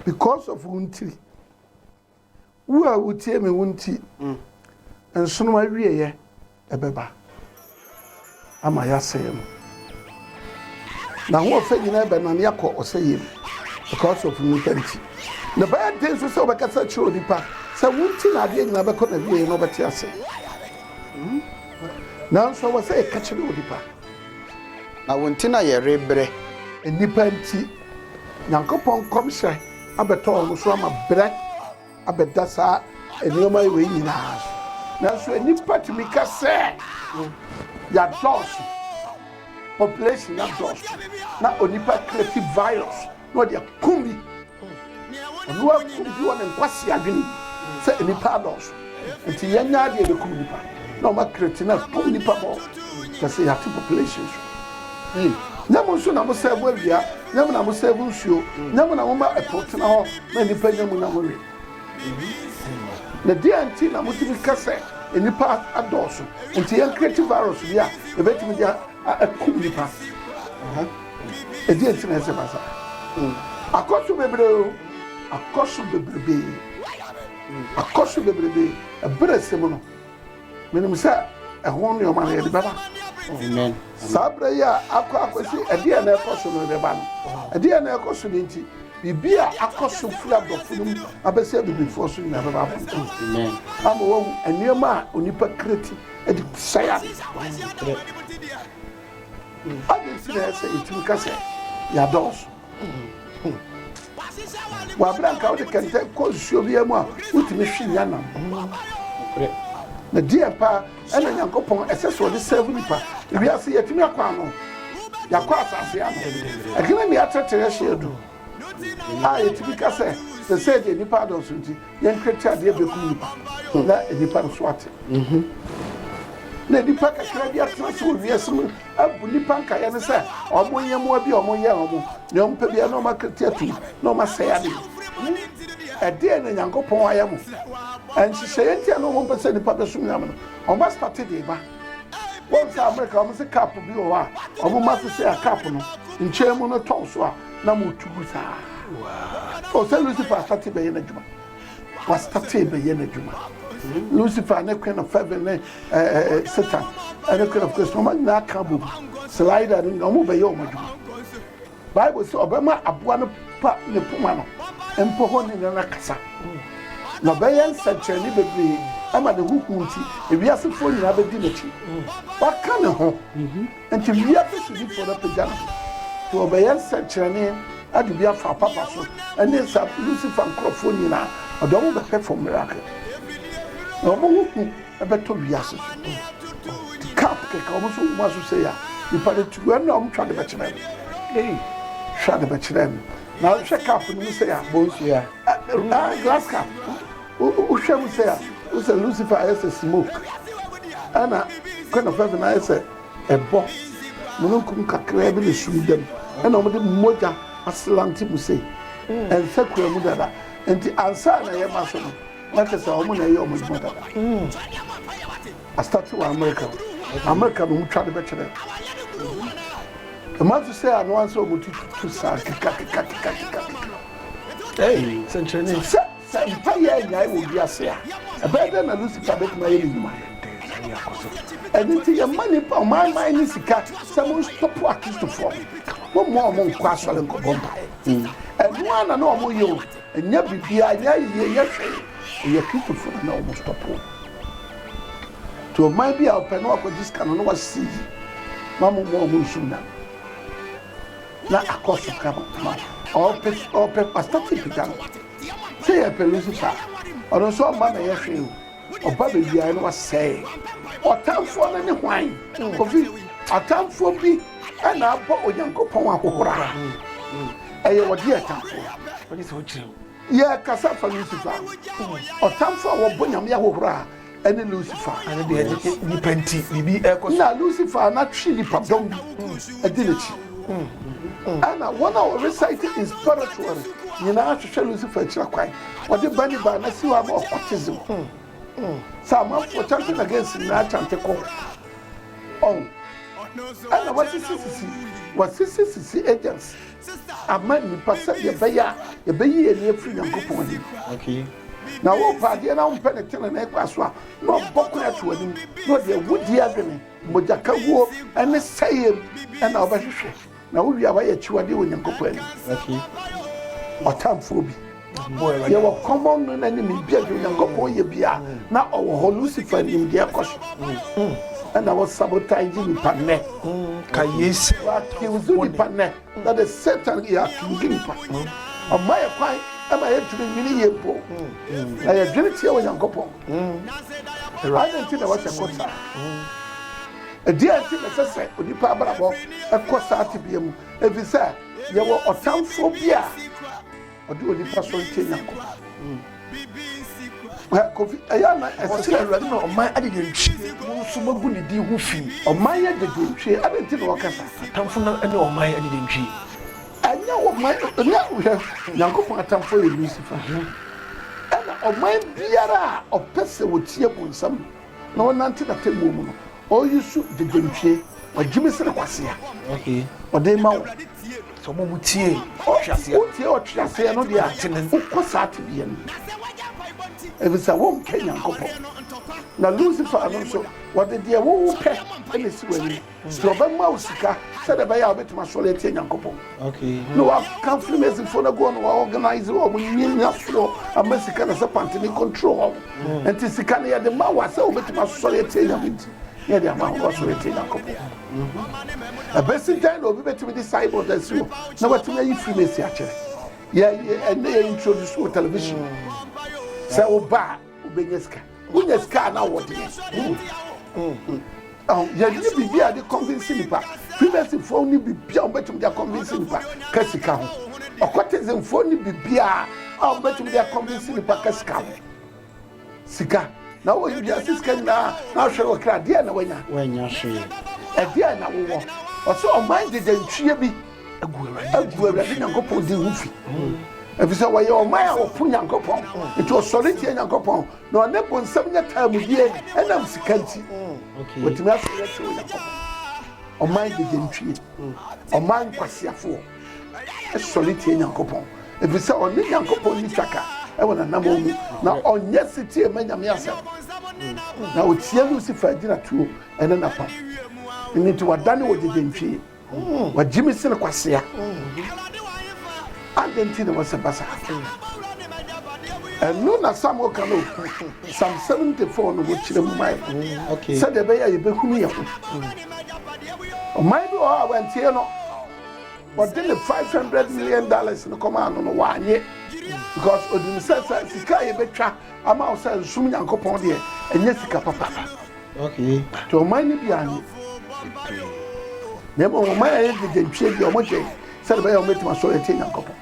because of wo ntiri wo a wotie me wo nti mm. nsono awieɛ ɛbɛba ama yɛasɛe no na ho ɔfɛ nyinaa bɛnane akɔ ɔsɛeɛ mu because of nipa nti na bɛyɛ den nso sɛ wobɛkasa kyerɛ onipa sɛ wo nti na adeɛ nyinaa bɛkɔ na wieɛ na wobɛte ase mm. Nanso ɛwɔ sɛ yɛka kyerɛ onipa. Na wo nti na yɛrebrɛ. Nnipa nti. Nyankopɔn nkɔmhyɛ abɛtɔ wɔn so ama brɛ abɛda saa nneɛma wei nyinaa so. Nanso nnipa tumi ka sɛ, Yɛadɔɔso. Population no adɔɔso. Na onipa create virus na ɔde akum bi. Ɔno ara kum bi wɔ ne nkwasea adwene mu sɛ nnipa adɔɔso nti yɛanya adeɛ ɛbɛkum nnipa na ɔma cretin akum nnipa bɔ kyɛ sɛ yɛate population so yie. Nyɛ mo nso na mo sɛɛvo awia, nyɛ mo na mo sɛɛvo nsuo, nyɛ mo na moma ɛpo tena hɔ ma nnipa nya mu na mowe. Na deɛn nti na motumi ka sɛ nnipa adɔɔso nti yɛn create virus bi a ɛbɛtumi de akum nnipa? Ɛdeɛn nti na ɛsɛ ba saa? Akɔ so bebree o, akɔ so bebrebe, akɔ so bebrebe. Ɛberɛ sɛ mu no, menim sɛ ɛho nneɛma no yɛde bɛba. Saa berɛ yi a akɔ akɔsi ɛdeɛ na ɛkɔ so no ɛbɛba no. Ɛdeɛ na ɛkɔ so no nti, biribi a akɔ so firi adɔfo no mu abɛsɛ abibifoɔ so nyinaa bɛba abɔnten. Ama wahu nneɛma a onipa kreti de sɛe ade. Adɛn nti na ɛyɛ sɛ yɛtumi ka sɛ yɛadɔɔso? Wɔ abere a nka wode kɛntɛn kɔ nsuo biara mu a wotumi hwe nya nam. Na deɛ paa ɛna Nyankopɔn ɛsɛ sɛ ɔde sɛɛvo nipa. Wiase yɛtumi akɔ ano, yɛakɔ asase ano. Ɛkene ne atetere hyɛ adu a yɛtumi ka sɛ sɛ sɛ deɛ nipa adɔɔso nti Yɛn tweatiadeɛ bɛkum nnipa, na nnipa nso ate. Na nnipa kakra bi atena ase wɔ wiase mu abu nnipa nkaeɛ no sɛ wɔn nyɛmmoa bi a wɔyɛ wɔn, nea wɔpɛ biara na wɔakati atom, na wɔasɛe adeɛ. Ɛdeɛn na Nyankopɔn ayɛ mo? Nhyehyɛeɛ nti a na wɔmpɛ sɛ nnipa bɛsom Nyame no, wɔastate de ba. Wɔn sɛ Amerika, wɔn se cup bi wɔ hɔ a wɔma te sɛ a cup no nkyɛn mu no tɔn so a, na motu gu saa. O sɛ Lucifer asate bɛyɛ n'adwuma. Wasate bɛyɛ n'adwuma. Lucifer ne Queen of Heaven ne Satan ne Queen of Christ wɔn nyinaa ka bom. Slider ne nyinaa wɔn bɛyɛ wɔn adwuma. Bible sɛ ɔbɛma aboa no pa ne poma no mpo hɔ ne nana kasa. Na ɔbɛyɛ nsɛnkyerɛnne bebree ama ne ho hu nti ewiasefoɔ nyinaa bɛdi n'akyi. Waka ne ho Enti wiase sodifo no apagya no so, na ɔbɛyɛ nsɛnkyerɛnne ade bi afa papa so, ɛne saa bere Lucifer nkurɔfo nyinaa, ɔde wɔn bɛpɛ fam miracle, na wɔn ho hu bɛtɔ wiase so. Ɔde cup keka wɔn so wɔ wɔn aso sei a, nnipa no ti gu ɛnna wɔn twa de bɛkyerɛ no. Ei, hwɛ ade bɛkyerɛ no. Na hwɛ cup no mu sei a. Bonsua. Glass cup. Wohwɛ mu sɛɛ a, wohu sɛ Lucifer ayɛ sɛ smoke, ɛna Queen of Heaven ayɛ sɛ ɛbɔ mununkum kakraa bi ne sum dam, ɛna wɔde mogya aselante mu sei, ɛnsa kura mu dada, nti ansa na ɛyɛ ma so no, na kyɛ sɛ wɔn na ɛyɛ wɔn adwuma dada. Astate wɔ America, America na wɔn twa de bɛkyerɛ. Ɛma so sɛ ano ansa wɔn tututu saa kekakekakekakeka. Sɛ. Sɛ mpae annyae wɔ wiase a, ɛbɛyɛ dɛn na Lucifer betumi ayɛ ne nnwuma? Ɛno nti, yɛmma nnipa ɔmanman ne sika sɛ monstɔpo Akristofo no, momma wɔn nnkɔ asɔre nnkɔbɔ mpae. Ɛno ara na na wɔyɛ o, ɛnyɛ biribiara, ɛnyɛ ayiyɛ, ɛnyɛ hwee. Ɛyɛ Kristofo no na wɔstɔpo wɔn. Nti ɔman bi a ɔpɛ na wakɔgye sika no na wasi yi ma mo mmoa ɔmo nsom nyame na akɔ so kama ma ɔpɛ ɔpɛ pasta ti pagya no Sɛ yɛpɛ Lucifer a, ɔno nso ɔmma bɛyɛ hwee o. Ɔba bɛwiaɛ na wasɛe ɔtamfoɔ no ne hwan? Kofi, atamfoɔ bi na abɔ Onyankopɔn ahohora. Ɛyɛ ɔde yɛ tamfoɔ. Yɛkasa fa Lucifer a, ɔtamfoɔ a wɔbɔ Nyame ahohora a ɛne lucifer ɛne deɛ ɛne nipa nti biribi ɛkɔ so na lucifer n'atwe nipa dɔm bi ɛdi n'akyi ɛna wɔn a wɔrecite in spiritual no nyinaa hwehwɛ lucifer akyira kwan wɔde ba ne ba na si hɔ ama occultism sɛ amanfoɔ chanting against nyinaa chante kɔ ɔn ɛna wɔsisi sisi wɔsisi sisi agents ama nnipa sɛdeɛ ɛbɛyɛ a yɛbɛyi yɛn ani afiri Nyankopɔn anim. Okay. Na wopɛ adeɛ na wompɛ ne tenenee kwa so a, na ɔbɔ kwan ato anim na ɔde awudie adwene, mogyakawuo ne sɛeɛm na wobɛhwehwɛ, na wowie a woayɛ akyiwadeɛ wɔ Nyankopɔn anim. Okay. Ɔtamfoɔ bi. Yɛwɔ kɔmmɔ no na nim bia deɛ Onyankopɔn yɛ bia na ɔwɔ hɔ Lucifer nim deɛ ɛkɔ so ɛna wɔ sabotage nipa nnɛ wɔ accuse nipa nnɛ na the Satan yɛ accuse nipa ɔma yɛ kwan ɛma yɛntumi nwene yie mpo na yɛdwene tia Onyankopɔn adɛ nti na wɔsɛ kɔ saa ɛdeɛ nti na ɛsɛ sɛ onipa abrabɔ ɛkɔ saa tebea mu ɛfiri sɛ yɛwɔ ɔtamfoɔ bi a Ɔde onipa sɔ ntie Nyankopɔn. Kofi, ɛyɛ ana ɛsɛ sɛ Awurade na ɔman adedentwie mu nso magu ne din ho fi? Ɔman adedentwie, adɛn nti na wɔka saa? Atamfo no ne ɔman adedentwie. Ɛnyɛ ɔman, ɛnyɛ hwɛ, Nyankopɔn atamfo yɛ Lucifer, ɛna ɔman biara a ɔpɛ sɛ wɔtie bonsam Na ɔnante n'atemmuo mu no, ɔresu gyegyenntwie, ɔgyimi sene kwasea. Ɔde rema wɔn. Sɛ wɔn a wɔtie ɔtweaseɛ no. Wotie ɔtweaseɛ no deɛ a, tene. Wokɔ saa tebea no mu. Ɛfiri sɛ wonka Nyankopɔn. Na Lusifer no nso, wɔde deɛ wowopɛ na ɛsi w'anim. Sɛ ɔbɛma wo sika sɛdeɛ ɛbɛyɛ a wobɛtumi asɔre atie Nyankopɔn na waka Freemasonfoɔ no agu hɔ no wɔorganise wɔn nyanyasoɔ ama sika na sɛ pante ne control wɔn hmm. nti sika no yɛde ma wo a sɛ wobɛtumi asɔre atie Nyame nti ne yɛde ama wo asɔre atie Nyankopɔn hmm. ɛbɛsi dɛn na obi bɛtumi de cyborg asi hɔ na watumi ayi Freemason akyerɛ ɛnɛ yɛ introduce wɔ television hmm. sɛ woba a Wobɛnya sika. Wonya sika a na wowɔ deɛ. Yɛnni biribi a yɛde convince nipa. Freemasonfoɔ nni biribi a wɔbɛtumi de akɔnvince nipa ka sika ho. Occultismfoɔ nni biribi a wɔbɛtumi de akɔnvince nipa ka sika ho. Sika. Na wɔ wiase sika nyinaa na ahwɛ wɔ kra deɛ na wanya. Wanya hwee. Ɛdeɛ na wowɔ. Ɔsɛ ɔman gyegye ntweɛ bi. agu Awurade Nyankopɔn din ho fi efisɛ wɔyɛ ɔman a wɔpo Nyankopɔn nti ɔsɔre tie Nyankopɔn na ɔne bonsam nyɛ taamudie ɛnam sika nti wɔtumi asɔre atie Onyankopɔn ɔman gyegyentwie ɔman nkwaseafoɔ ɛsɔre tie Nyankopɔn efisɛ ɔne Nyankopɔn ni twaka ɛwɔ nanamɔ mu na ɔnyɛ setie ma Nyame asɛm na ɔtie Lucifer agyinatuo ɛne napam ɛno nti wadane wɔ gyegyentwie wagye me sene kwasea adɛn nti na wɔsɛ basa ɛno na samuel ka no sam 74 no wɔkyerɛ mu mae sɛdeɛ ɛbɛyɛ a yɛbɛhunu yɛ ho ɔman bi wɔ hɔ a wantie no wɔde ne 500 million dollars no kɔmaa no no wanye because onim sɛ sɛ sika a yɛbɛtwa ama wo sɛ nsom nyankopɔn deɛ ɛnyɛ sika papa Ɔte ɔman no bi ano pii, na mmom ɔman a ɛyɛ gyegyenkyee bi a wɔgyɛn sɛdeɛ ɛbɛyɛ a wɔbɛtumi asɔre atie Nyankopɔn.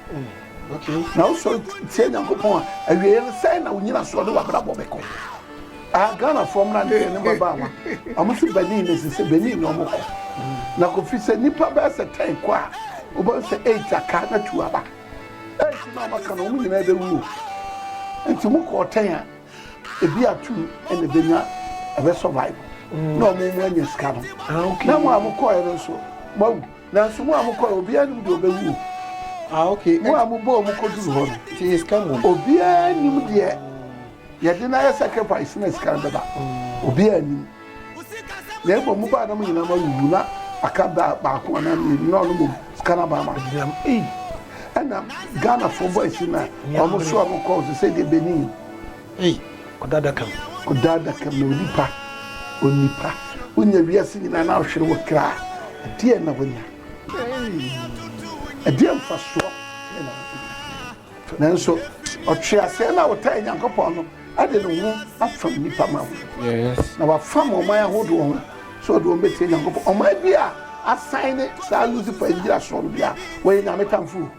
Na wosɔre tie Nyankopɔn a, awieeɛ no sɛn na wo nyinasoɔ ne w'abrabɔ bɛkɔ? A Ghanafoɔ mmra ne yɛne mmabaawa, wɔn nso Benin na ɛsɛ sɛ Benin na wɔkɔ. Na Kofi sɛ nnipa bɛyɛ sɛ 10 kɔ a, wobɛhu sɛ 8 aka na 2 aba. 8 no a wɔaka no, wɔn nyinaa bɛwuo. Nti mokɔɔ 10 a, Ebi a two na ebenya ɛbɛ survive na ɔmo mo anya sika no. Ah, okay. Na mo a mo kɔɛ no nso mo awu. Nanso mo a mo kɔɛ obiara nim deɛ ɔbɛwu o. Ah, okay. Mo a mo bɔ ɔmo kɔduru hɔ no. Ti yɛ sika mu. Obiara nim deɛ yɛde no ayɛ sacrifice na sika no bɛba. Obiara nim. Na mmom mo baanom nyinaa mo awuwu na aka da baako anaa mmienu na ɔno mmom sika no aba ama agyinam ei ɛna Ghana foɔ bɔ asi na ɔmo so ɔmo kɔɔ so sɛ deɛ Benin ei ɔda adakam ɔda adakam na onipa onipa wonya wiase nyinaa na ɔhwere wɔ kra ɛdeɛ na wonya ei ɛdeɛ mfasoɔ Nanso, ɔtweaseɛ no a ɔtaa Nyankopɔn no de ne ho afam nnipa ma ho, na wafam ɔman ahodoɔ ho sɛ ɔde wɔn bɛtie Nyankopɔn. Ɔman bi a asan ne saa Lucifer nnyinasoɔ no bia, wɔyɛ Nyame tamfo o.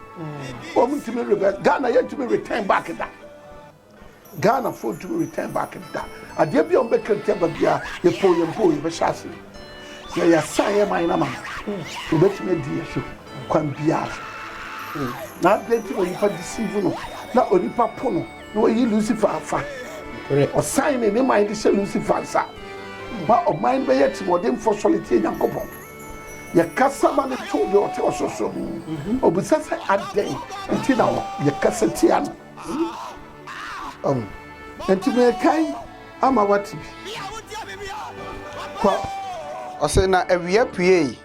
Wɔntumi rebɛ, Ghana yɛntumi return back da. Ghana foɔ ntumi return back da. Adeɛ biaa ɔmo bɛ ka ntia ba biaa yɛ poo yɛn poo yɛ bɛ hyɛ aseɛ. Yɛ yɛ sign yɛ man na ma no. Wɔ bɛ tumi adi yɛ so kwan biara. Na adeɛ nti na onipa deceive no na onipa po no na wayi Lucifer afa. Ɔsan ne ne man de hyɛ Lucifer nsa. Ma ɔman no bɛ yɛ timɔden foɔ sɔre tie Nyankopɔn. Yɛ kasa ma no to deɛ ɔte ɔsorosoro no. Ɔbisa sɛ adɛn nti na yɛ kasa tia no. Ɔho. Enti meekae ama woate bi. Kɔ. Ɔse na awia puee.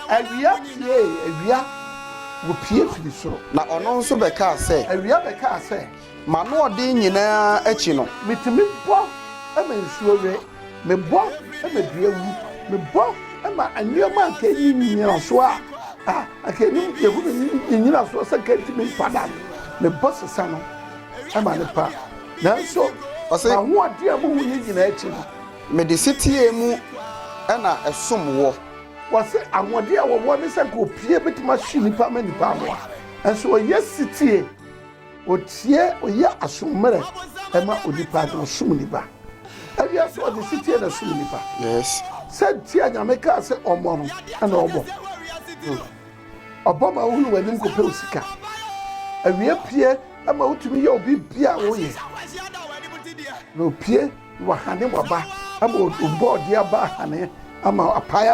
Awia puee, awia, wopue firi soro. Na ɔno nso bɛkaa sɛ. Awia bɛkaa sɛ. M'anoɔden nyinaa akyi no. Metumi bɔ ma nsuo we. Mebɔ ma dua wu. Mebɔ ma nneɛma a anka ɛnni nnyinasoɔ a a anka ɛnim yɛhunu nnyinasoɔ sɛ anka ɛntumi mpa da no. Mebɔ sesa no ma no pa. Nanso m'ahoɔden a mohuiɛ nyinaa akyi no. Mede setie mu na ɛsom woɔ. Wɔse ahoɔden a wɔwɔ ne sɛ anka ɔpie bɛtumi ahye nnipa ama nnipa anoa. Nanso wɔyɛ setie. Ɔtie, ɔyɛ aso mmerɛ ma onipa, na ɔsom ne ba. Awia so ɔde setie na ɛsom ne ba. Sɛ nti a Nyame kaa sɛ ɔmmɔ no, ɛna ɔbɔ. Ɔbɔ ma wohunu w'anim kɔpɛ wo sika. Awia pue ma wotumi yɛ wo biribiara a woyɛ. Na ɔpue. Wahane w'aba ama ɔbɔ ɔde aba ahane ama apae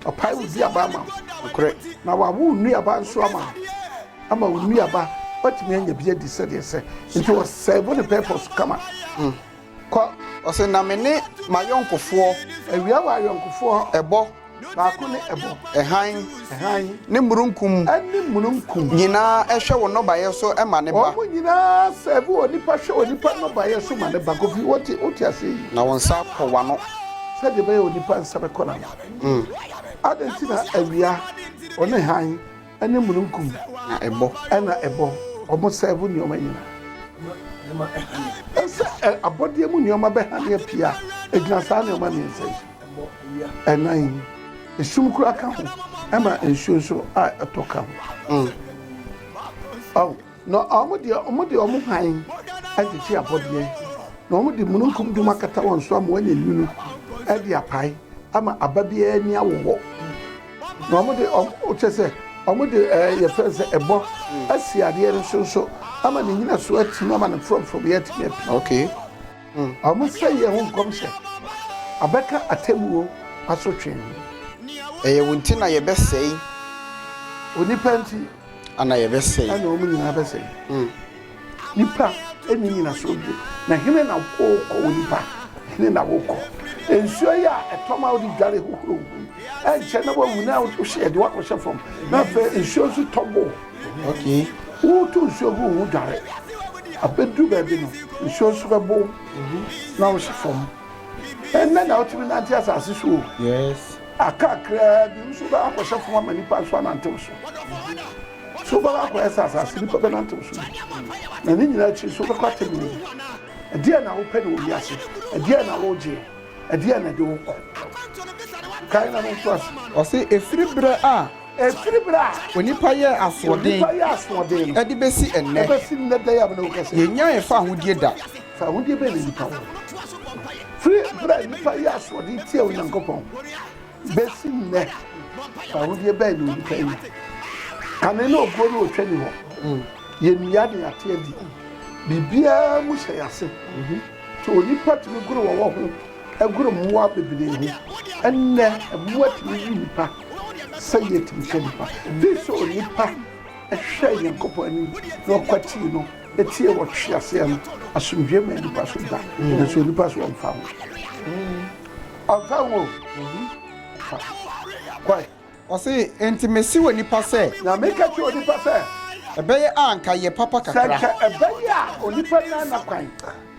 ɔpae wo duaba ama nokorɛ na wawo wo nnuaba nso ama ama wo nnuaba watumi anya bi adi sɛdeɛ sɛ nti ɔsɛvo ne purpose kama hmm. kɔ ɔsɛ na me ne m'ayɔnkofoɔ awia wɔ ayɔnkofoɔ ɛbɔ Baako ne ɛbɔ. Hann. Hann. Ne mununkum. Ɛne mununkum. Nyinaa hwɛ wɔn nnɔbaeɛ so ma ne ba. Wɔn nyinaa sɛɛve onipa hwɛ onipa nnɔbaeɛ so ma ne ba. Kofi, wote, wote aseɛ yi? Na wɔn nsa kɔ wɔn ano. Sɛdeɛ ɛbɛyɛ onipa nsa bɛkɔ n'ano. Mm. Adɛn nti na awia, ɔne hann, ɛne mununkum. Na ɛbɔ. Ɛna ɛbɔ. Wɔn sɛɛve nneɛma nyinaa. Ɛsɛ abɔdeɛ mu nneɛma bɛhane apia. Ɛgyina saa nneɛma mmiɛnsa yi so. ɛbɔ awia. Ɛnan yi, esum koraa ka ho, ɛma nsuo nso a ɛtɔ ka ho. Ɔw, na wɔn deɛ wɔde wɔn hann agyegye abɔdeɛ, na wɔde mununkum dum akata wɔn so ama wɔanya nwunu de apae ama aba biara ani awo hɔ. Na wɔde wɔn kyɛ sɛ wɔde ɛɛ yɛfrɛ no sɛ ɛbɔ asi adeɛ no so nso ama ne nnyinasoɔ atim ama ne frɔmfrɔmyɛ atumi apue. Okay. Wɔsɛeɛ ho nkɔm sɛ, Ɔbɛka atemmuo asotwe ho. Ɛyɛ wo nti na yɛbɛsɛe. Onipa nti na yɛbɛsɛe. Ɛna wɔn nyinaa bɛsɛe. Nnipa nni nnyinasoɔ bio. Na hene na worekɔ, onipa? Hene na worekɔ? Nsuo yi a ɛtɔ ma wode dware hohoro wo ho yi, ɛnkyɛ na woahunu a wohyeɛ de woakɔhyɛ fam, na afei nsuo nso tɔ bo. Woretu nsuo gu wo ho dware. Abɛduru baabi no, nsuo nso bɛbo wo na wohyɛ fam. Ɛnnɛ na wotumi nante asase so o, aka kakraa bi nso wobɛkɔ akɔhyɛ fam ama nnipa nso anante wo so. So wobɛkɔ akɔyɛ sɛ asase nnipa bɛnante wo so bi? Na ne nyinaa akyi nso wobɛkɔ atemmu mu. Ɛdeɛn na wopɛ no wɔ wiase? Ɛdeɛn na woregye? Ɛdeɛn na ɛde wo kɔ? Kae na no ntoaso. Ɔse ɛfiri berɛ a. Ɛfiri berɛ a onipa yɛɛ asoɔden de bɛsi ɛnnɛ, yɛnnyaee fa ahodie da. Fa ahodie bɛn na nnipa wɔ? Firi berɛ a nnipa yɛɛ asoɔden tiaa Onyankopɔn bɛsi nnɛ, fa ahodie bɛn na onipa nya? Kane ne obuo ne otwa nni hɔ. Yɛnnua na yɛate adi. Biribiara mu hyɛ yɛn ase. Nti onipa tumi goro wɔwɔ ho Ɛgoro mmoa bebree ho. Ɛnnɛ, mmoa tumi we nnipa sɛdeɛ yɛtumi hwɛ nnipa. Ɛbɛyɛ sɛ onipa hwɛɛ Nyankopɔn anim na ɔkwatii no tiee wɔ tweaseɛ no. Asomdwoeɛ maa nnipa so da, nanso onipa so ɔmfa ho. Ɔmfa ho o. Ɔmfa ho. Kwae. Ɔse, Enti mese onipa sɛ. Na meka kyerɛ onipa sɛ. Ɛbɛyɛ a anka yɛ papa kakra. Sɛ anka ɛbɛyɛ a onipa nnya n'akwan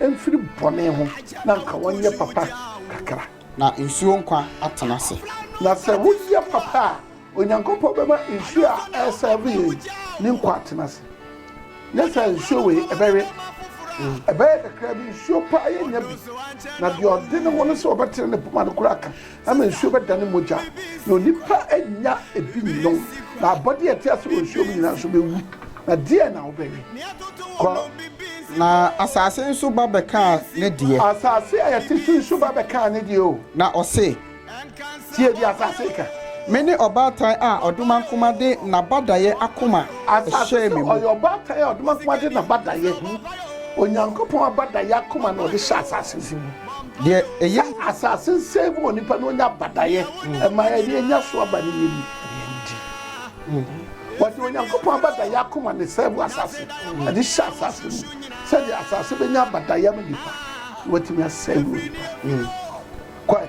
mfiri bɔne ho na anka ɔnyɛ papa kakra. Na nsuo nkwa atena ase. Na sɛ woyɛ papa a, Onyankopɔn bɛma nsuo a ɛresɛɛve yɛn yi ne nkwa atena ase. Nyɛ saa nsuo wei, ɛbɛwe. Ɛbɛyɛ kakra bi, nsuo paa yɛnnya bi. Na deɛ ɔde ne ho no sɛ ɔbɛtene ne poma no koraa ka. ama nsuo bɛdane mogya, na onipa nnya ebi nnom, na abɔdeɛ a ɛte ase wɔ nsuo mu nyinaa nso bɛwu. Na deɛn na wobɛyɛ? Kɔ. Na asase nso ba bɛkaa ne deɛ. Asase a yɛte so yi nso ba bɛkaa ne deɛ o. Na ɔse. Tie deɛ asase reka. Mene ɔbaatan a ɔdomankoma de n'abadaeɛ akoma hyɛɛ me mu. Asase se ɔyɛ ɔbaatan a ɔdomankoma de n'abadaeɛ, Onyankopɔn abadaeɛ akoma na ɔde hyɛɛ asase no. Deɛ ɛyɛ. Sɛ asase nsɛe mu wɔ nipa na onya badaeɛ ɛma yɛn na yɛnya so aba no yɛn ni na yɛn di. Wɔde Onyankopɔn abadaeɛ akoma na ɛsɛe mu asase ɛde hyɛ asase mu sɛdeɛ asase bɛnya abadaeɛ ama nipa na watumi asɛe mu nipa. Kɔe.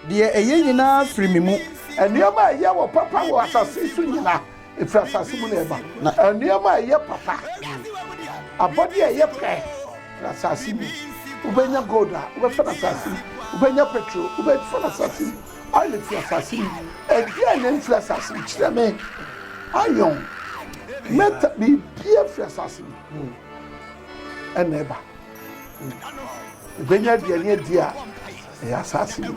Deɛ ɛyɛ nyinaa firi me mu. Nneɛma a ɛyɛ wɔ papa wɔ asase so nyina. Ɛfiri asase mu na ɛba. Na nneɛma a ɛyɛ papa, abɔdeɛ a ɛyɛ pɛ firi asase mu. Wobɛnya gold a, wobɛfa no asase mu. Wobɛnya petro, wobɛfa no asase mu. Oil firi asase mu. Ɛdeɛn na ɛmfiri asase mu? Kyerɛ me. Iron, metal, biribiara firi asase mu hmm. ɛna ɛba. Wobɛnya aduane adi a ɛyɛ asase mu.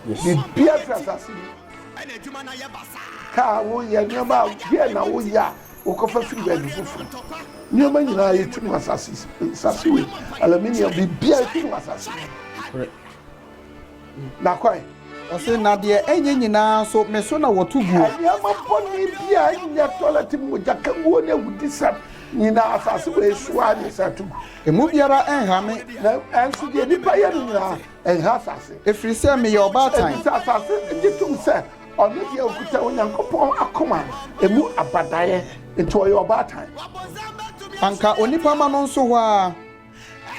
Biribiara firi asase mu. Ɛna adwuma no ayɛ basaa. Ka a woyɛ, nneɛma a deɛn na woyɛ a wokɔfa firi baabi foforɔ? Nneɛma nyinaa yɛtu no asase si, nsase wei, aluminium, biribiara yɛtu no asase mu. Korɛ. Na kɔe. Ɔse, na deɛ ɛnyɛ nyinaa nso, me so na wɔto guo. Nneɛma bɔne bi a ɛnyɛ tɔlɛt mu mogya kaguo ne awudisɛm nyinaa, asase wei so ara na yɛsan to gu. Emu biara nha me. Na, nanso deɛ nnipa yɛ no nyinaa, Ɛnha asase. Ɛfiri sɛ meyɛ ɔbaatan. Ɛfiri sɛ asase gye tom sɛ ɔno deɛ ɔkuta Onyankopɔn akoma a ɛmu abadaeɛ, nti ɔyɛ ɔbaatan. Anka onipa ma no nso hɔ ara.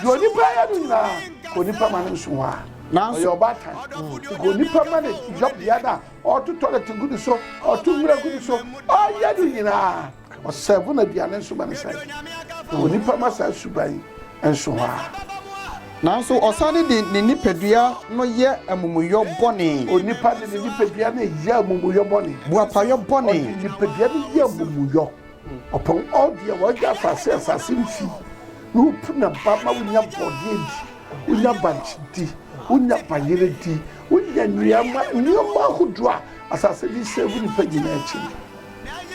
Deɛ onipa yɛ no nyinaa, ka onipa ma no nso hɔ ara. Nanso ɔyɛ ɔbaatan. Ka onipa ma no yɔbea no a ɔtotɔ dɔte gu ne so, ɔto nwura gu ne so, ɔyɛ no nyinaa. Ɔsɛɛfo na aduane nso ma no sɛe, na onipa ma saa suban yi nso hɔ ara. Nanso ɔsane de ne nipadua no yɛ amumuyɔ bɔne. Onipa de ne nipadua no yɛ amumuyɔ bɔne. Boapayɔ bɔne. Ɔde nipadua no yɛ amumuyɔ. Ɔpɔn ɔde a wɔagya asase asase mfi, na opu na ba ma wonya bɔne di, wonya bankye di, wonya bayerɛ di, wonya nnuama nneɛma ahodoɔ a asase de sɛɛfo nipa nyinaa akyi no.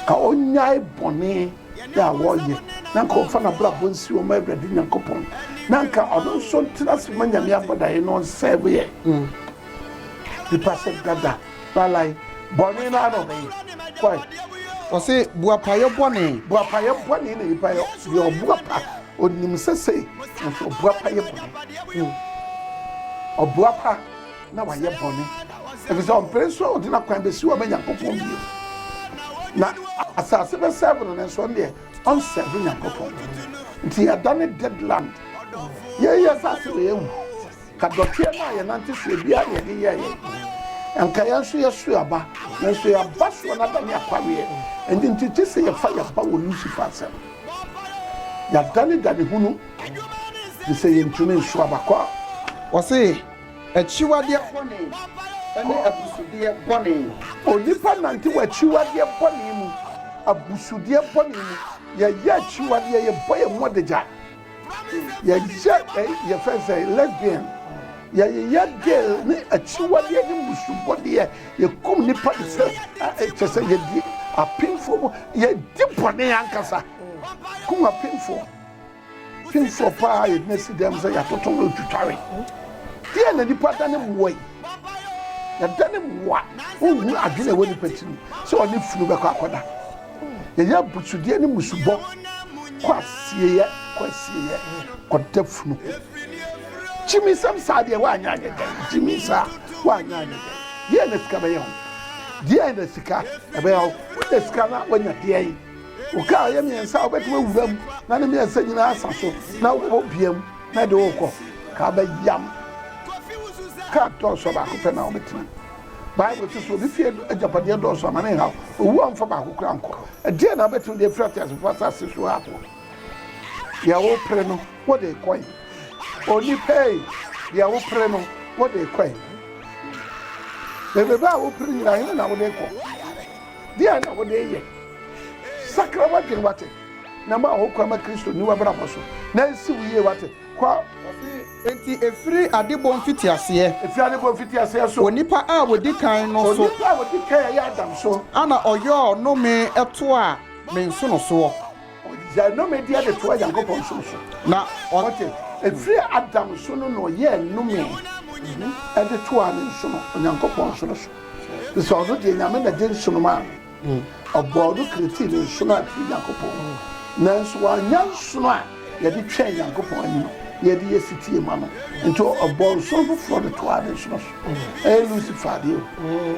ka ɔnyae bɔne yɛ a wɔyɛ na nka ɔmfa n'abrabɔ nsi ɔma Awurade Nyankopɔn na nka ɔno nso ntena ase ma Nyame abɔdaeɛ no ɔnsɛeweɛ mm. nipa sɛ dada lalae bɔne no ara ɔbɛyɛ kwae ɔse boapayɔ bɔne boapayɔ bɔne na nipa yɛ deɛ ɔboapa ɔnim sɛ sei nanso ɔboapa yɛ bɔne mm. ɔboapa na wayɛ bɔne ɛfiri sɛ ɔmpere nso a ɔde no akwan bɛsi wɔ ma nyankopɔn bio na asase bɛsɛve no nanso ɔno deɛ ɔnsɛve nyankopɔn nti ɛda ne dead land yɛyɛ asase wɔ yɛhu ka dɔteɛ no a yɛnante soɔ biara na yɛde yɛyɛ nka yɛn nso yɛso aba nanso yɛaba soɔ no ada ne akwaweɛ ɛnti nti gye sɛ yɛfa yɛba wɔ lucifer asɛm yɛadane dane hunu de sɛ yɛntumi nso abakɔ a wɔse Akyiwadeɛ bɔne ne abusudeɛ bɔne. Onipa nante wɔ akyiwadeɛ bɔne mu, abusudeɛ bɔne mu. Yɛyɛ akyiwadeɛ, yɛbɔ yɛn ho adagya, yɛyɛ yɛfrɛ sɛ lesbian, yɛyeyɛ gay ne akyiwadeɛ ne mbusubɔdeɛ, yɛkum nnipa de sɛ kyɛ sɛ yɛdi apemfoɔ mu, yɛdi bɔne ankasa kum apemfoɔ. Pinsir paa a yɛgyina si dɛm sɛ yɛatoto no retwitware. Deɛn na nipa da ne mmoa yi? Yɛda ne mmoa. Wonhunu adwene a ɛwɔ nipa tirim sɛ ɔne funu bɛkɔ akɔda. Yɛyɛ abusudeɛ ne mmusubɔ kɔ asieeɛ kɔ asieeɛ kɔda funu ho. Gyiminsɛm saa deɛ woanyɛ anyɛ dɛn? Gyimi saa woanyɛ anyɛ dɛn? Deɛn na sika bɛyɛ wo? Deɛn na sika ɛbɛyɛ wo? Wonya sika na woanya deɛn? Wo kaa a ɛyɛ mmiɛnsa a wobɛtumi awura mu na ne mmiɛnsa nyinaa asa so na wobɔ bia mu na ɛde wokɔ kaa bɛyam. Kaa dɔɔso a baako pɛ na wobɛtena mu. Bible to so obi fie agyapadeɛ dɔɔso ama ne nhaw, owu a ɔmfa baako koraa nkɔ. Ɛdeɛn na wobɛtumi de afiri ateasefoɔ asase so ha akɔ? Deɛ wopere no, wode kɔe. Onipa ei, deɛ wopere no, wode kɔe. Bebebe a wopere nyinaa, he na wode kɔ? Deɛn na wode reyɛ? Sakra w'adwene wate, na ma wo kwan ma Kristo nni w'abrabɔ so, na nsi wo yie wate. Kɔ. Ɔse, Enti ɛfiri adebɔ mfitiaseɛ. Ɛfiri adebɔ mfitiaseɛ so. Onipa a ɔdi kan no so. Onipa a ɔdi kan a ɛyɛ Adam so. Ana ɔyɔɔ nnome toaa me nsonosoɔ. Ɔgyae nnɔmedi de toa Nyankopɔn som so. Na ɔte. Ɛfiri Adam so no na ɔyɛɛ nnome de toaa ne nsono, Onyankopɔn nsono so. Te sɛ ɔno deɛ, Nyame na de nsono maa no. Ɔbɔɔ no kiritiri ne nsono a ɛfiri Nyankopɔn hɔ. Nanso wannya nsono a yɛde twɛn Nyankopɔn anim na yɛde yɛ setie ma no. Enti ɔbɔɔ nsono foforɔ de toaa ne nsono so. Ɛyɛ Lucifer adeɛ o.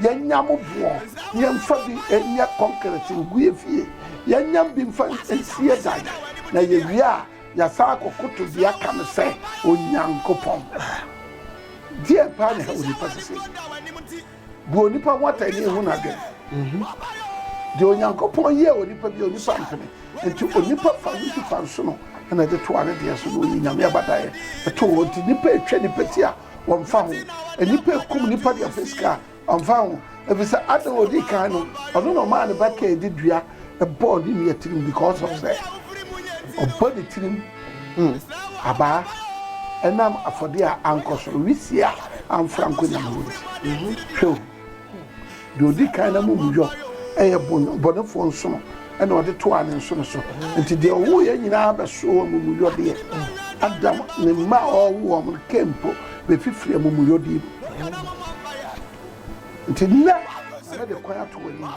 Yɛnnya mo boɔ na yɛmfa bi nyɛ kɔnkrɛt ngue fie, yɛnnya bi mfa nsie dan, na yɛwie a, yɛasan akɔkoto deɛ aka no sɛ Onyankopɔn. Deɛn paa na ɛha onipa sesei? Bu onipa ho atɛn na ɛhu n'adwene. Deɛ Onyankopɔn yɛɛ onipa bi onipa mpene, nti onipa fa no nsufansono na ɛde toa ne deɛ so na ɔyi Nyame abadaeɛ too hɔ, nti nnipa ɛtwa nnipa ti a wɔmfa ho. Nnipa rekum nnipa de apɛ sika a, wɔmfa ho. Ɛfiri sɛ Adam a ɔdi kan no, ɔno na ɔmaa ne ba Kain de dua bɔɔ ne nua tirim because of sɛ ɔbɔ ne tirim mm, abaa ɛnam afɔdeɛ a ankɔ soro, wisie a amfra nkɔ nyame hɔ nti. Mhm. Hwɛ o. Deɛ ɔdi kan no amumuyɔ yɛ bɔnefoɔ nsono, ɛna ɔde toaa ne nsono so. Nti deɛ ɔwoeɛ nyinaa bɛsoo amumuyɔdeɛ. Adam ne mma a ɔwoo wɔn no, Kain mpo, bɛfifiri amumuyɔdeɛ mu. Nti nnɛ, mɛde kwan ato w'anim.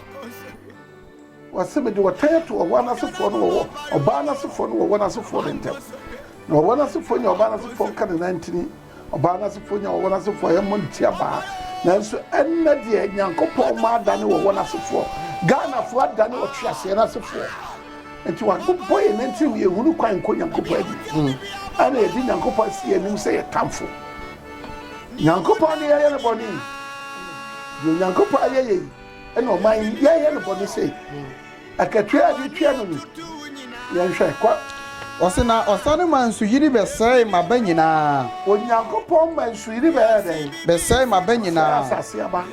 Ɔse, Mede ɔtan ato ɔwɔ no asefoɔ ne ɔwɔ ɔbaa no asefoɔ ne ɔwɔ no asefoɔ no ntam. Na ɔwɔ no asefoɔ nya ɔbaa no asefoɔ nka ne nantini, ɔbaa no asefoɔ nya ɔwɔ no asefoɔ yɛ mmɔ ne ti abaa. Nanso ɛnnɛ deɛ Nyankopɔn ma adane ɔwɔ no asefoɔ. Ghanafoɔ adane ɔtweaseɛ no asefoɔ. Nti wɔabobɔ yɛn nantirim yɛnhunu kwan nkɔ Nyankopɔn anim. Hmm. Ɛna yɛde Nyankopɔn asi yɛn anim sɛ yɛ tamfo. Nyankopɔn ne yɛyɛ ne bɔne. Deɛ Onyankopɔn ayɛ yɛ yi ɛna ɔman yi yɛyɛ no bɔne sei akatua a yɛde tua no ni yɛnhwɛ kɔ. Ɔse na ɔsane ma nsuyiri bɛsɛe maba nyinaa. Onyankopɔn ma nsuyiri bɛyɛ dɛn? Bɛsɛe maba nyinaa. Sɛe asase aba.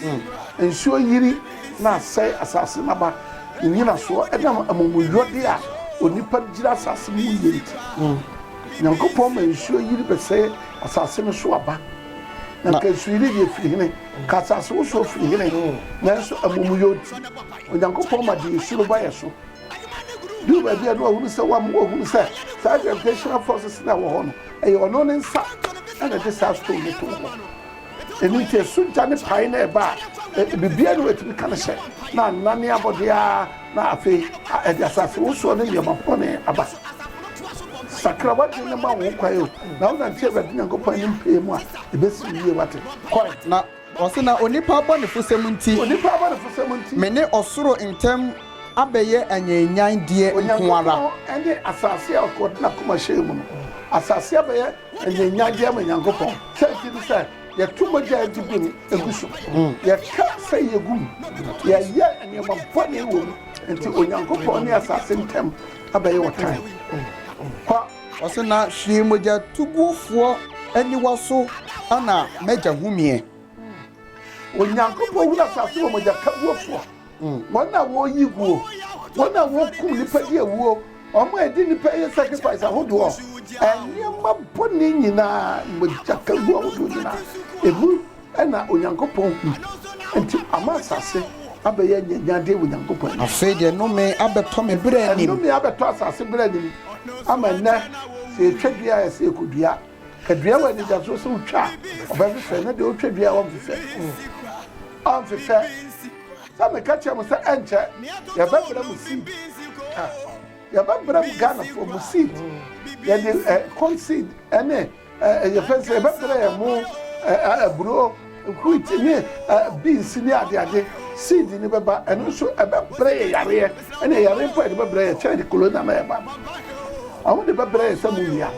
Mm. Nsuo yiri na asɛe asase n'aba ne nyinasoɔ ɛnam amumuyɔde a onipa gyina asase mu yɛ nti. Mm. Nyankopɔn ma nsuo yiri bɛsɛe asase no so aba. Na kasuyi no deɛ firi hene, ka asase wosoɔ firi hene, nanso amumuyɔ nti Onyankopɔn ma deɛ ɛsuro ba yɛ so. Duu baabi a na wahunu sɛ wam, wahunu sɛ saa gravitational forces na ɛwɔ hɔ no, ɛyɛ ɔno ne nsa na ɛde saa stone no too hɔ. Ɛno nti ɛso gya ne pae na ɛba a, biribiara ne watumi ka no hyɛ, na anane abɔdeɛ ara. Na afei a ɛde asasewosoɔ ne nneɛma bɔne aba, sakra w'adwene na ma wo ho kwan o, na wonante Awurade Nyankopɔn anim pɛɛ mu a, ɛbɛsi wo yie, woate. Kɔe. Na ɔse, na onipa abɔnefosɛm nti. Onipa abɔnefosɛm nti. Me ne ɔsoro ntam abɛyɛ anyanyann deɛ nko ara. Onyankopɔn ne asase a ɔde n'akoma hyɛɛ mu no, asase abɛyɛ anyanyann deɛ ama Nyankopɔn, sɛ nti ne sɛ. Yɛto mogya a egye bere gu so. Yɛka fɛyɛ gu mu. Yɛyɛ nneɛma bɔne wom. Enti Onyankopɔn ne asase ntam abɛyɛ ɔtan. Kɔ. Ɔse, Na hwee mogyatugufoɔ aniwa so na m'agya humeɛ. Onyankopɔn hunu asase wɔ mogyakaguofoɔ. Wɔn a wɔyi guo, wɔn a wɔkum nipa di awuo, wɔn a ɛdi nipa yɛ sacrifice ahodoɔ, nneɛma bɔne nyinaa, mogya kaguo ahodoɔ nyinaa, ɛmu na Onyankopɔn hu. Enti ama asase abɛyɛ nyanyadeɛ wɔ Nyankopɔn anim. Afei deɛ nnome abɛtɔ me berɛ anim. Nnome abɛtɔ asase berɛ anim, ama nnɛ sɛ yɛtwa dua a, ɛsɛ yɛkɔdua. Hwɛ dua wɔ anidasoɔ sɛ wotwa a ɔbɛhwehwɛ ne deɛ ɔtwa dua a ɔmfefɛ ɔmfefɛ sɛ meka kyerɛ mo sɛ ɛnkyɛ yɛbɛbrɛ mo seed yɛbɛbrɛ mo ghanafoɔ mo seed yɛde eh, corn seed ɛne eh, eh, yɛfɛ sɛ yɛbɛbrɛ yɛ mo aburo Wheat ne beans ne adeade seed no bɛba, ɛno nso ɛbɛbrɛ yɛ yareɛ, ɛne yareɛ mpo a yɛde bɛbrɛ yɛ kyɛn de corona na ɛba no. Wɔn de bɛbrɛ yɛ sɛ monnua,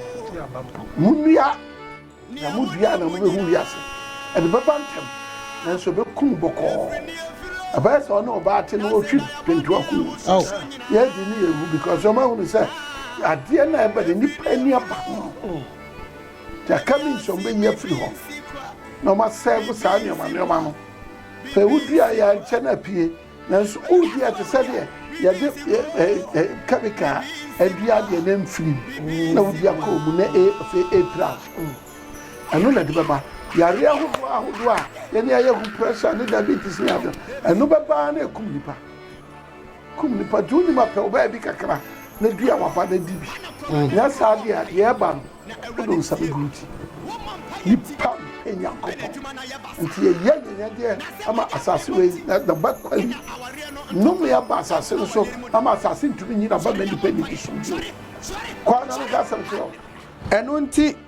monnua, na modua na mobɛhu wiase. Ɛde bɛba ntɛm, nanso ɛbɛkum bɔkɔɔ. Ɛbɛyɛ sɛ ɔne ɔbaa te no ɔtwi pentua kum no. Yɛadi ne yɛwu because wɔn ahunu sɛ adeɛ no a ɛba no nnipa ani aba ho. Yɛaka bi nso a wɔbɛyi afiri hɔ na wɔasɛɛvo saa nneɛma nneɛma no. Sɛ wodua yɛ ankyɛ na apue, nanso wodi a ɛte sɛ deɛ yɛde kɛmika adua adeɛ na mfirim na wodi akɔ mu na afei ɛrepira wo. Ɛno na ɛde bɛba. Yareɛ ahodoɔ ahodoɔ a yɛne ayɛ hu, pressure ne diabetes ne ade, ɛno bɛba na ɛkum nnipa. Kum nipa nti wonim a pɛ wo baabi kakra na dua w'aba na di bi nyɛ saa deɛ a deɛ ɛba no wode wo nsa bɛguru ti nipa mpɛ nyankopɔn nti yɛyɛ nyanyadeɛ ama asase wei na naba kwali nnome aba asase no so ama asase ntumi nyina ba ma nipa nni bi som bio kɔ ana no ka asɛm kyerɛ ɛno nti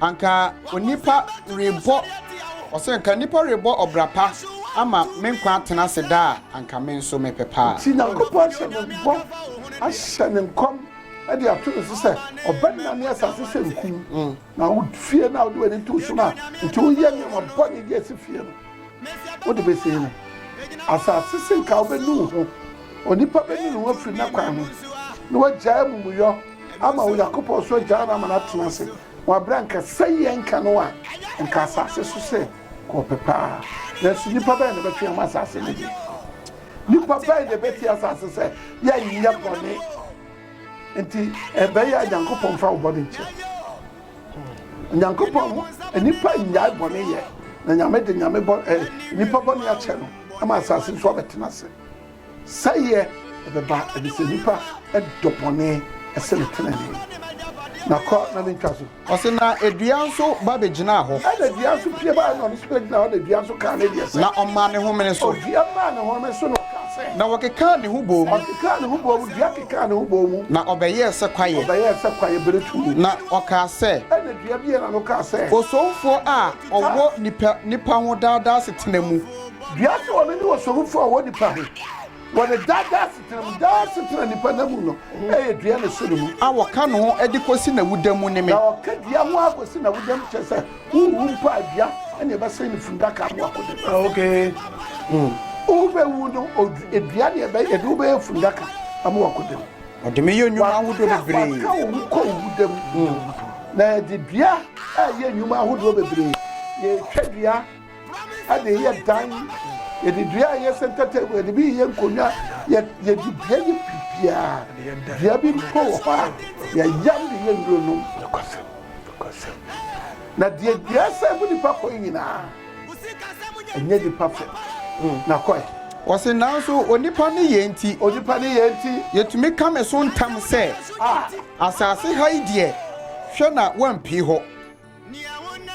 Anka onipa rebɔ, ɔsɛ nka nipa rebɔ ɔbra pa ama me nkwa atena ase daa a, anka me nso mepɛ paa. Nti Nyankopɔn ahyɛ no bɔ, ahyɛ no nkɔm de ato ne so sɛ ɔbɛnane asase sɛ nku mu, na wo fie no a wode w'ani too so no a nti woyɛ nneɛma bɔne de asi fie no, wode bɛsie no. Asase se nka wobɛnu wo ho, onipa bɛnu ne ho afiri n'akwan ho, na wagyae amumuyɔ. ama Onyankopɔn so agyaa no ama no atena ase wɔ bere a anka sɛ yɛn nka no a, anka asase so sɛ kɔɔpɛ paa. Nanso nnipa bɛn na ɛbɛtwe ama asase no de? Nnipa bɛn na ɛbɛti asase sɛ yɛnyɛ bɔne? Nti ɛbɛyɛ a Nyankopɔn mfa wo bɔne nkyɛ. Nyankopɔn nnipa nnyae bɔne yɛ, na Nyame de Nyame bɔ eh, nnipa bɔne akyɛ no ama asase so abɛtena ase. Sɛeɛ bɛba, ɛfiri sɛ nnipa dɔ bɔne sene tenenee. Na kɔ na mentwa so. Ɔse na dua nso ba bɛgyinaa hɔ. Ɛna dua nso pue baeɛ na ɔno nso bɛgyinaa hɔ, na dua nso kaa ne deɛ sɛ. Na ɔmaa ne homene so. Dua maa ne homene so na ɔkaa sɛ. Na wɔkekaa ne ho bɔɔ mu. Ɔkekaa ne ho bɔɔ mu, dua kekaa ne ho bɔɔ mu. Na ɔbɛyɛɛ sɛ kwaeɛ. Ɔbɛyɛɛ sɛ kwaeɛ berɛ tuu no. Na ɔkaa sɛ. Ɛna dua bie na no kaa sɛ. Osomfoɔ a ɔwɔ nnipa ho daadaa asetena mu. Dua so wɔ no ne ɔsɔrofo a ɔwɔ nnipa he, wɔ ne daa daa asetena mu, daa asetena nnipa nna mu no yɛ dua ne so ne mu. A wɔka ne ho de kosi n'awuda mu ne me. Na wɔka dua ho ara kosi n'awuda mu, kyerɛ sɛ, wowu mpo a, dua ne ɛbɛsɛn ne fundaka ano akɔda mu. Ah, ok. Mm. Wobewu no, dua ne ɛbɛ, yɛde wo bɛyɛ fundaka ama wakɔda mu. Ɔde me yɛ nnwuma ahodoɔ bebree. Waka wo ho kɔ owuda mu. Mm. Na yɛde dua a yɛ nnwuma ahodoɔ bebree, yɛtwa dua. ɛde yɛ dan yɛde dua a yɛ center table yɛde bi yɛ nkonnwa yɛde dua yɛ biribiara dua bi mpo wɔ hɔ a yɛyam de yɛ nnuro nom na deɛ dua sɛ mu nipa kɔ nyinaa ɛnyɛ nipa fɛ hmm. na kɔɛ wɔsi nanso onipa ne yɛn nti onipa ne yɛn nti yɛtumi ka me so ntam sɛ ah. asase ha yi deɛ hwɛ na wampie hɔ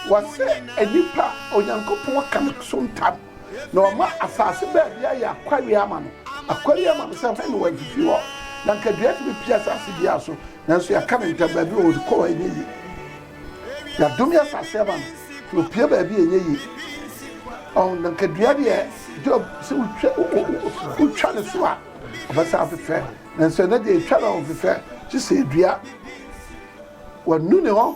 Wɔasɛ nnipa a Onyankopɔn aka no so ntam, na wɔama asase baabi ayɛ akwawea ama no. Akwawea ama no sɛ hwan na wɔafifi hɔ. Na anka dua tumi pue asase biara so, nanso yɛaka no ntam, baabi a ɔkɔ hɔ nyɛ yie. Yɛadome asase ama no, na ɔpue baabi a ɛnyɛ yie. Ɔn, na anka dua deɛ Job sɛ wotwa wotwa ne so a ɔbɛsa afefɛ, nanso ɛnɛ deɛ yɛtwa no a ɔmfefɛ, gye sɛ ɛdua. Wɔanu ne hɔ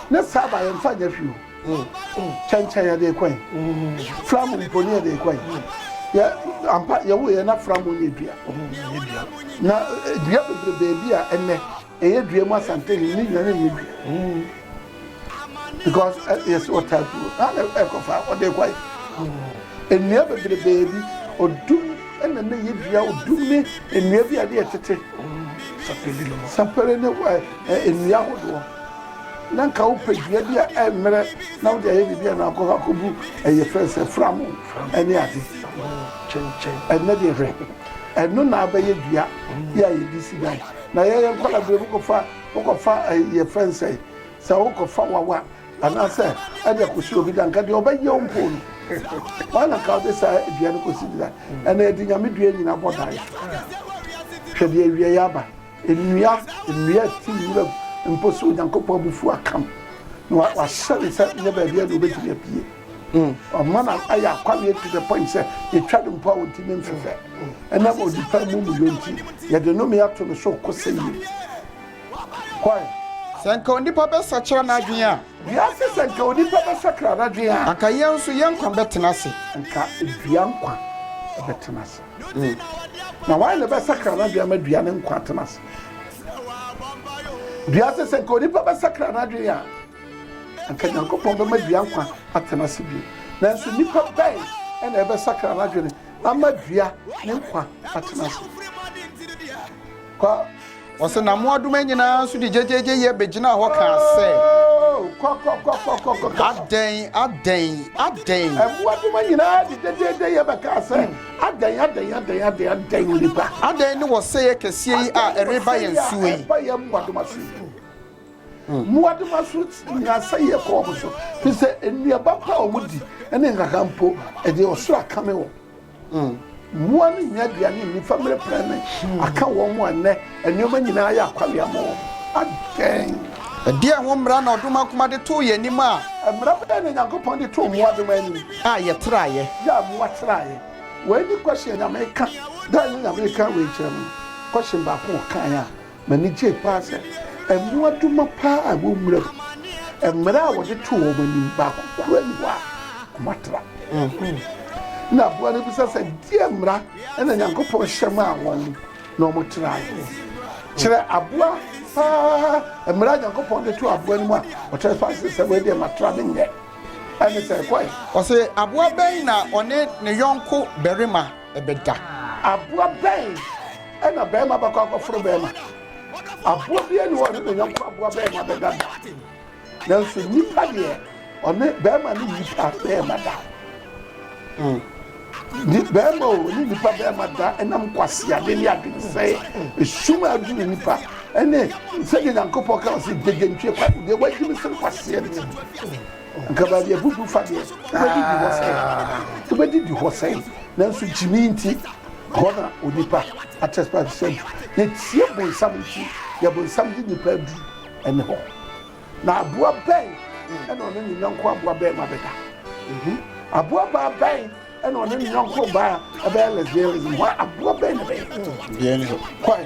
Ne saaba yɛn nfa nyɛ hwee o. Kyɛnkyɛn yɛde rekɔ yi. Flamu mpo ne yɛde rekɔ yi. Yɛ ampa yɛwɔ yɛ na flamu nyɛ dua. Na eh, dua bebrebe bi a ɛnɛ ɛyɛ dua mu asante ne ne nyane nyɛ dua. because eh, yes ɔta kuro ana ɛkɔfa ɔde kɔ yi nnua bebrebe bi ɔdum ɛna ne yɛ dua ɔdum ne nnua bi a ɛde ɛtete sapere ne nnua ahodoɔ Na nka wopɛ dua bi a ɛmmrɛ na wode ayɛ biribi anaa wokɔ hɔ akɔbu ɛyɛ frɛ no sɛ framo ne ade kyenkyen. Ɛnnɛ deɛ hwɛ, ɛno na abɛyɛ dua yɛ a yɛde si dan. Na yɛn yɛn nkwadaa berɛ mu kɔfa wokɔfa ɛyi yɛfrɛ no sɛ sɛ wokɔfa wawa anaasɛ ɛde akɔsi obi da nka deɛ ɔbɛyɛ wo mpo no wɔn na nka wode saa dua no kɔsi da ɛna yɛde nyame dua nyina bɔ dan hwɛ deɛ awieɛ aba. Nnua, nnua a ɛte wuram mpo so, Onyankopɔn abufuo aka no, na wa- wahyɛ no sɛ nyɛ baabiara na obɛtumi apue. Ɔma no ayɛ akwaweɛ to the point sɛ yɛtwa no mpo a ɔntumi mfefɛ. Ɛnam onipa amumuyɔ nti, yɛde nnome ato no so kɔsɛyie. Hwan? Sɛ nka onipa bɛsakyera n'adwene a, Wiase, sɛ nka onipa bɛsakra n'adwene a, anka yɛn nso yɛn nkwa bɛtena ase. anka dua nkwa bɛtena ase. Mm. Na wan na ɛbɛsakra n'adwene ama dua ne nkwa atena ase? Dua sɛ sɛ nka onipa bɛsakra n'adwene a anka nyankopɔn bɛma dua nkwa atena ase bio nanso nipa bɛn ɛna ɛbɛsakra n'adwene ama dua ne nkwa atena ase Kɔ. Wɔsɛ na mmoadoma nyinaa nso de gyegyeegye yɛ begyinaa hɔ kaa sɛ. Kɔ kɔ kɔ kɔ kɔ kɔ. Adɛn adɛn adɛn. Mmoadoma nyinaa de gyegyeegye yɛ bɛkaa sɛ adɛn adɛn adɛn adɛn adɛn onipa. Adɛn ne wɔsɛeɛ kɛseɛ yi a ɛreba yɛn soɔ yi. Ɛba yɛn mmoadoma so yi. Mmoadoma so nya asɛeɛ kɔ wɔn so, fi sɛ nnuaba mpo a wɔdi ne nkaka mpo, ɛde ɔsoro akame wɔn. Mmoa no nnya aduane nni fa mmerɛ pɛ ne aka wɔn ho a nnɛ nneɛma nyinaa ayɛ akwawea ma wɔn. Adɛn? Ɛdeɛn ho mmara na ɔdom akoma de too yɛn anim a. Mmara bɛn na Onyankopɔn de too mmoadoma anim. A yɛtraeɛ? Yɛ a mmoa traeɛ. Wei ne kɔhye a Nyame reka. Da a ɛnyɛ Nyame reka wei kyerɛ no, kɔhye baako a ɔkaeɛ a. M'ani gyei paa sɛ mmoadoma paa a ɛwɔ nwura mu, mmara a wɔde too wɔn anim baako koraa nni hɔ a wɔatra. Ɛnna aboa no bisa sɛ, Deɛn mmara na Nyankopɔn hyɛ maa wɔn na wɔtraeɛ? Kyerɛ aboa paa mmara a Nyankopɔn de too aboa no mu a ɔtrae so ase sɛ, Wei deɛ matra, menyɛ. Ɛnne sɛ ɛkɔe. Ɔse, Aboa bɛn na ɔne ne yɔnko barima. bɛda. Aboa bɛn na barima bɛkɔ akɔforo barima? Aboa biara ni hɔ ɔne ne yɔnko aboa barima bɛda da. Nanso nnipa deɛ ɔne barima ne nnipa barima da. Mm. Ni barima o ne nnipa barima da ɛnam kwaseade ne adwensɛe esum a aduru nnipa ɛne sɛdeɛ Nyankopɔn ka ɔse gyegye ntwe kwa deɛ wagye me sene kwaseɛ ne Nkabaadeɛ bubu fa deɛ wobɛdidi hɔ sɛn wobɛdidi hɔ sɛn nanso gyimi nti hɔ na onipa atɛspa sɛ du yɛtie bonsam nti yɛ bonsam de nipa adu ɛne hɔ na aboa bɛn ɛna ɔne ne nyɔnko aboa bɛn ma bɛda mhm. aboa baa bɛn ɛna ɔne ne nyɔnko baa ɛbɛyɛ lesbianism hɔ aboa bɛn na bɛyɛ kwan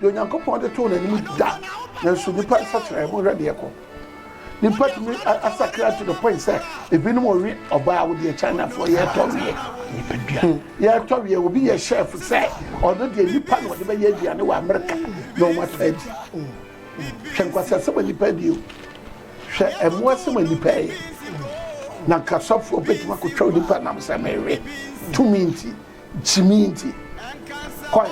Deɛ Onyankopɔn de too n'anim da, nanso nipa nsakyeraɛ, monhwɛ deɛ ɛkɔ. Nipa tumi asakra to the point sɛ ebinom ɔwe ɔbaa wo deɛ Chinafoɔ yɛtɔ weɛ. Nipadua. Hmm. Yɛtɔ weɛ obi yɛ chef sɛ ɔno deɛ nipa na ɔde bɛyɛ aduane wɔ Amerika na wɔn atɔ adi. Hwɛ nkwasi asɛm a nipa adi o. Hwɛ ɛmo asɛm a nipa yɛ. Na nkasɔfoɔ bɛtumi akɔtwa nipa nam sɛ mɛwe tumi nti. Gyimii nti kɔe.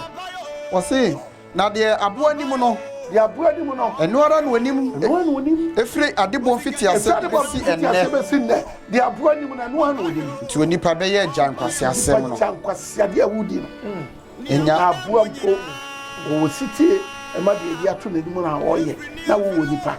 Ɔse, na deɛ aboa anim no. Deɛ aboa anim no. Ɛno ara na ɔnim. Ɛno ara na ɔnim. Ɛfiri adebɔ mfitiaseɛ de bɛsi ɛnnɛ. Ɛfiri adebɔ mfitiaseɛ bɛsi nnɛ. Deɛ aboa anim no, ɛno ara na ɔnim. Nti onipa bɛyɛ agya nkwaseasɛm no. Nti onipa gya nkwaseadeɛ a wodi no. Ɛnya. Na aboa mpo, ɔwɔ sitie ma deɛ yɛde ato n'anim no a ɔyɛ, na wowɔ nipa.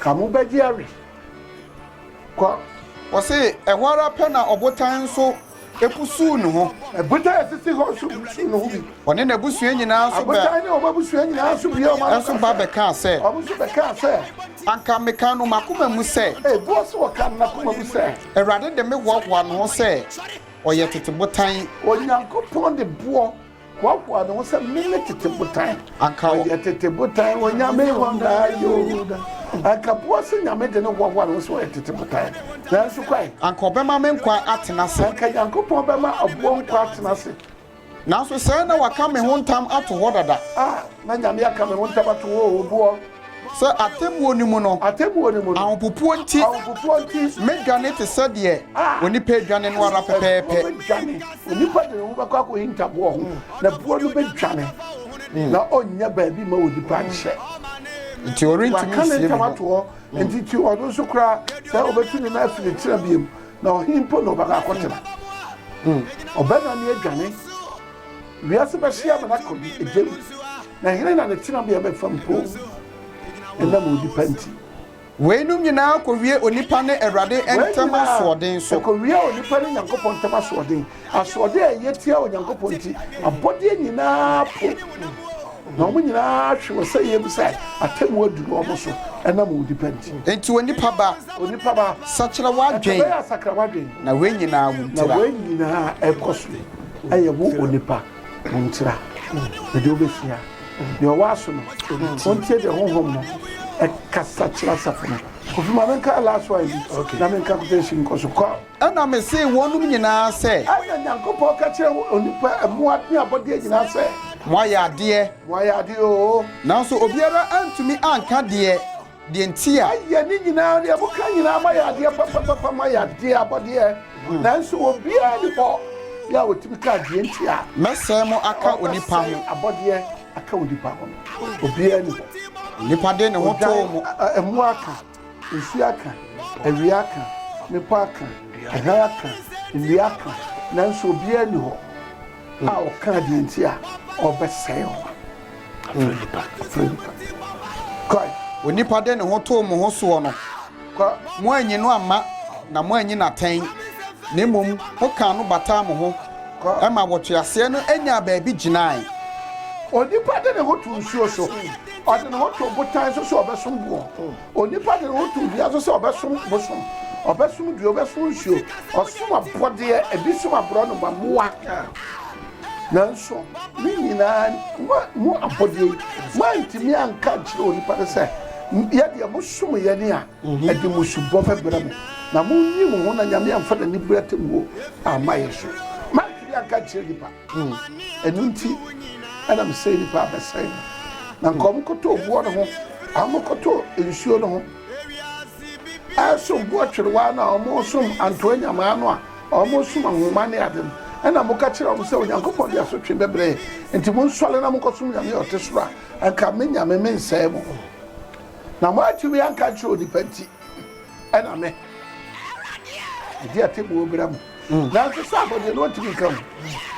Ka mo ba Jerry kɔ. Ɔse ɛhɔ ara pɛ na ɔbotan nso busuu ne ho. Ɛbotan a ɛsisi hɔ nso busuu ne ho bi. Ɔne n'abusua nyinaa nso bɛ. Abotan ne wɔn abusua nyinaa nso bue wɔn ano nso ba bɛkaa sɛ. Wɔn nso bɛkaa sɛ. Anka meka no m'akoma mu sɛ. Ɛboɔ so ɔkaa no n'akoma mu sɛ. Awurade de me hoahoa me ho sɛ ɔyɛ tete botan. Onyankopɔn de boɔ. Hoahoa ne ho sɛ meyɛ tete botan. Anka ɔyɛ tete botan onyame hɔ daa yo. Anka boɔ se nyame de ne hoahoa ne ho sɛ ɔyɛ tete botan. Nanso kwan. Anka ɔbɛma me nkwa atena ase. Anka Nyankopɔn bɛma aboɔ nkwa atena ase. Nanso sɛɛ na waka me ho ntam ato hɔ dada. Ah, na nyame aka me ho ntam ato hɔ o boɔ. Sɛ atemmuo no mu no, ahopopoɔ nti, mɛdwane te sɛ deɛ onipa redwane no ara pɛpɛɛpɛ. Onipa de ne ho bɛkɔ akɔhinta boɔ ho, na boɔ no bɛdwane, hmm. na ɔnnya baabi ma onipa nhyɛ. Nti ɔrentumi nsie ne ho. Nti ti ɔno nso koraa sɛ ɔbɛtu ne nan afiri tena biam, na ɔhe mpo na ɔbɛkɔ akɔtena. Hmm. Ɔbɛdwane adwane Wiase bɛhye amena kɔ bi egya mu, na hena na ne tenabea bɛfa mpoo ɛnam onipa nti? Weinom nyinaa kowie onipa ne Awurade ntam asoɔden so. Wei nyinaa kowie onipa ne Nyankopɔn ntam asoɔden, asoɔden a ɛyɛ tia Onyankopɔn nti, abɔdeɛ nyinaa po na wɔn nyinaa hwe wɔ sɛeɛ mu sɛ atemmu aduru wɔn so ɛnam onipa nti. Enti onipa ba, onipa ba, sakyera w'adwen, ɛtɛbɛyɛ asakra w'adwen, na wei nyinaa wo ntira. Na wei nyinaa ɛkɔ so. ɛyɛ wo onipa wo ntira ɛdeɛ wobɛsua deɛ ɔwɔ aso no wontie deɛ honhom no ɛkasa kyerɛ asafo no kofi ma menka last one bi okay. na menka quotation nkɔ so kɔ ɛna mesee wɔnom nyinaa sɛ ɛna nyankopɔn ka kyerɛ onipa mmoa ne abɔdeɛ nyinaa sɛ moayɛ adeɛ moayɛ adeɛ oo nanso obiara antumi anka deɛ deɛ nti a. Ayɛ ne nyinaa deɛ moka nyinaa mo ayɛ adeɛ papapapa mo ayɛ adeɛ abɔdeɛ nanso obiara ni hɔ yɛ a ɔtumi ka adeɛ nti a. Mɛsɛe mo aka onipa ho. Ɔbɛsɛe abɔdeɛ aka onipa ho no obiara ni hɔ. Onipa de ne ho too mo. Ɛmoa aka, nsuo aka, awia aka, mmepɔ aka, ɛhan aka, nnua aka nanso obiara ni hɔ. A ɔkaa deɛ nti a ɔrebɛsɛe wɔn afrɛ nnipa, afrɛ nnipa. Kɔe. Onipa de ne ho too mo ho soɔ no, Kɔ. moannye no amma na moannye no atɛn, na mmom mokaa no bataa mo ho Kɔ. ma wɔtweaseɛ no nyaa baabi gyinae. Onipa de ne ho too nsuo so, ɔde ne ho too botan so sɛ ɔbɛsom boɔ. Onipa de ne ho to dua so sɛ ɔbɛsom bosom, ɔbɛsom dua, ɔbɛsom nsuo, ɔsom abɔdeɛ, ebi som aborɔnoma, mmoa. Nanso ne nyinaa mo mo abɔdeɛ yi moantumi anka nkyerɛ onipa no sɛ yɛ deɛ mosom yɛ ne a mhm. ɛde mo subɔ bɛbrɛ mo na monyi mo ho na nyame amfa n'ani berɛ te mo amma yɛ so mantumi anka nkyerɛ nipa Hmm, ɛno nti ɛna mesɛe nnipa abɛsɛe no na nka ɔmokɔtɔ obuɔ no ho amokɔtɔ nsuo no ho ɛsom boɔ twerewaa no a ɔmosom antoa nyamaa no a ɔmosom ahoma ne ade no ɛna moka kyerɛ ɔm sɛ onyankopɔn de asotwe bɛbrɛ nti monsɔre na monkɔsom nyame a ɔte soro a anka me nyame mensɛe mo na moatumi anka nkyerɛ onipa nti ɛna me ɛde atɛbuo bra mu nanso sɛ abɔ deɛ na ɔntumi nka ho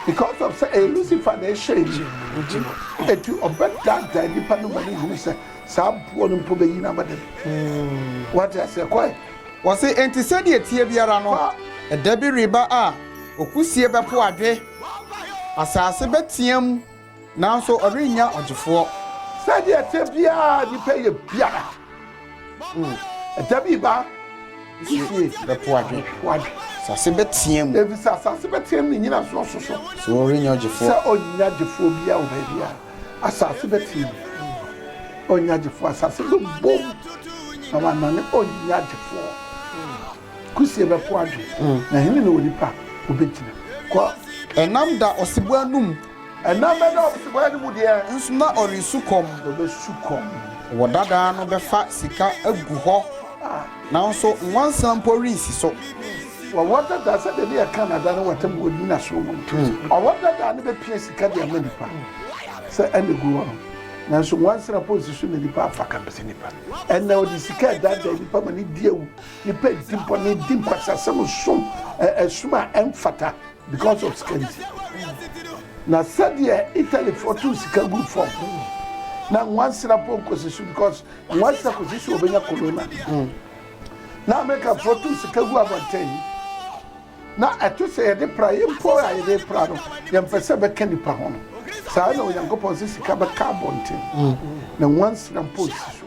because of sɛ ɛyɛ Lucifer na ɛhyɛe no nti no ɛti ɔbɛdaadaa nnipa no ma no hunu sɛ saa boɔ no mpo bɛyi no ama dɛm hmm. wate aseɛ kɔe wɔse enti sɛdeɛ tie biara no ɛda bi reba a okusie bɛpo adwe asase bɛteam Nanso ɔrennya ɔgyefoɔ. Sɛdeɛ ɛteɛ biara a nnipa yɛ biara, ɛda bi ba. Nsusuie bɛpo adwe. Asase bɛteam. Ɛfiri sɛ asase bɛteam ne nnyinasoɔ so so. Sɛ wɔrennya ɔgyefoɔ. Sɛ ɔnnya gyefoɔ biara wɔ baabi a asase bɛteam. Ɔnnya gyefoɔ, asase bɛbom na wanane, ɔnnya gyefoɔ. Kusie bɛpo adwe, na hene na onipa ɔbɛgyina. Kɔ. Ɛnam da ɔsebɔ anum. Ɛnam ɛna ɔbsebɔeɛ no mu deɛ. Nso na ɔresu kɔm. Na ɔbɛsu kɔm. Wɔ dadaa no bɛfa sika agu hɔ, nanso nwansena mpo rensi so. Wɔwɔ dadaa sɛdeɛ ne yɛka nada no wɔ tam wɔ nnyinasoɔ mu no, ɔwɔ dadaa no bɛpia sika de ama nnipa sɛ ɛna ɛgu hɔ no, nanso nwansena mpo rensi so na nnipa amfa ka mpɛ sɛ nnipa ɛna ɔde sika ɛdaadaa nnipa ma ne di awu, nnipa di bɔne, di nkwasasɛm, som ɛsom a ɛmfata. Because of sika nti. Na sɛdeɛ Italyfoɔ too sika guu fam no, na nwansena mpo nkɔsi so because nwansena kɔsi so wɔbɛnya corona. Na Amerikafoɔ too sika gu abɔnten. Na ɛto sɛ yɛde pra, yɛn mpo a yɛde pra no, yɛmpɛ sɛ bɛka nnipa ho no. Saa na Onyankopɔn sɛ sika bɛka abɔnten, na nwansena mpo nsi so.